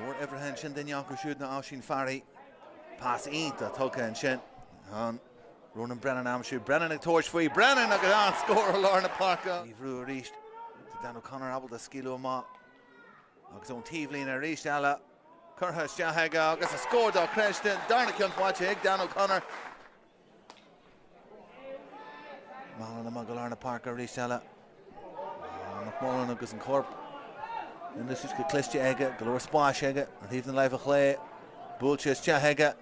Mar uimhir a hocht ansin duine acu siúd ná Oisín Farry. Pas iontach tugtha ansin do Ronan Brennan am siúd. Brennan ag tabhairt faoi. Brennan agus an-scór ó lár na páirce. Briseadh arís do Dan O'Connor ábalta scaoileadh amach agus ón taobhlíne arís eile. Curtha isteach aige agus scór dochreidte. Darna ceann faighte ag Dan O'Connor. Mallon i lár na páirce arís eile. McMullan agus an corp in úsáid go cliste aige, go leor spáis aige ar thaobh na láimhe clé. Buailte isteach aige.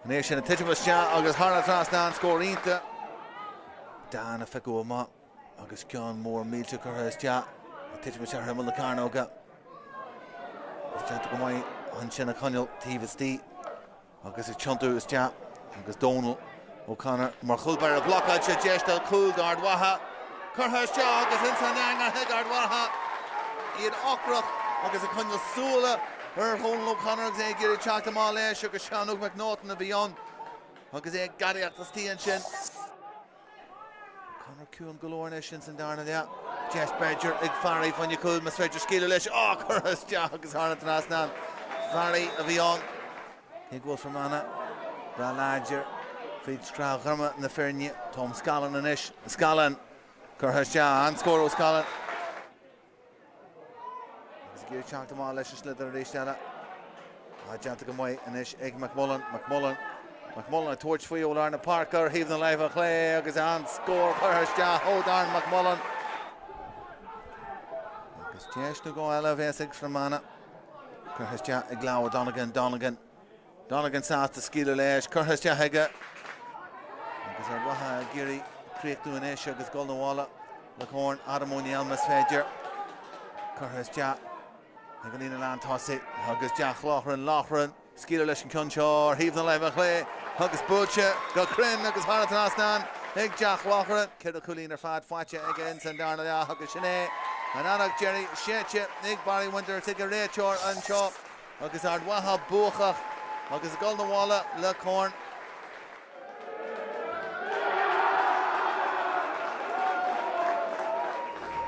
É siúd ag titim isteach agus thar an trasnán scór iontach. Dan á phiocadh amach agus ceann mór millteach curtha isteach ag titim isteach ar imeall na cearnóga. Déanta go maith ansin á choinneáil taobh istigh. Agus ag tiontú isteach agus Dónal O'Connor mar chúl báire blocáilte deis de chúl d'Ard Mhacha. Curtha isteach agus ins an eangach ag Ard Mhacha, iad ocrach agus ag coinneáil súile ar Dhónal O'Connor agus é ag iarraidh teacht amach leis agus Seán Óg McNaughton a bhí ann agus é ag gadaíocht istigh ansin. Conor ciúin go leor anois ins an darna leath. Deis b'fhéidir ag Farry fáinne an chúil mas féidir scaoileadh leis. Á! Curtha isteach agus thar an trasnán. Farry a bhí ann. Ag foireann Fhear Manach dath láidir fríd scraith ghorma na foirne. Tom Scallon anois. Scallon curtha isteach. An-scór ó Scallon. Agus ag iarraidh teacht amach leis an sliotar arís eile. Déanta go maith anois ag McMullan. McMullan McMullan ag tabhairt faoi ó lár na páirce ar thaobh na láimhe clé agus an scór curtha isteach ó Darren McMullan. Agus deis nó dhó eile a bheas ag Fear Manach. Curtha isteach ag Lamh Donegan Donegan. Donegan sásta scaoileadh leis curtha isteach aige agus Ard Mhacha ag iarraidh críochnú anois agus dhul 'na bhaile le Corn Adam Ó Néill más féidir. Curtha isteach ag an líne lán tosaigh agus Jack Loughran, Loughran ag scaoileadh leis an ceann seo ar thaobh na láimhe clé agus buailte go cruinn agus thar an trasnán ag Jack Loughran. Ceithre chúilín ar fad faighte aige ins an darna leath agus sin é an adharc dheiridh séidte ag Barry Winters ag an réiteoir anseo. Agus Ard Mhacha buacach agus ag dul 'na bhaile le Corn.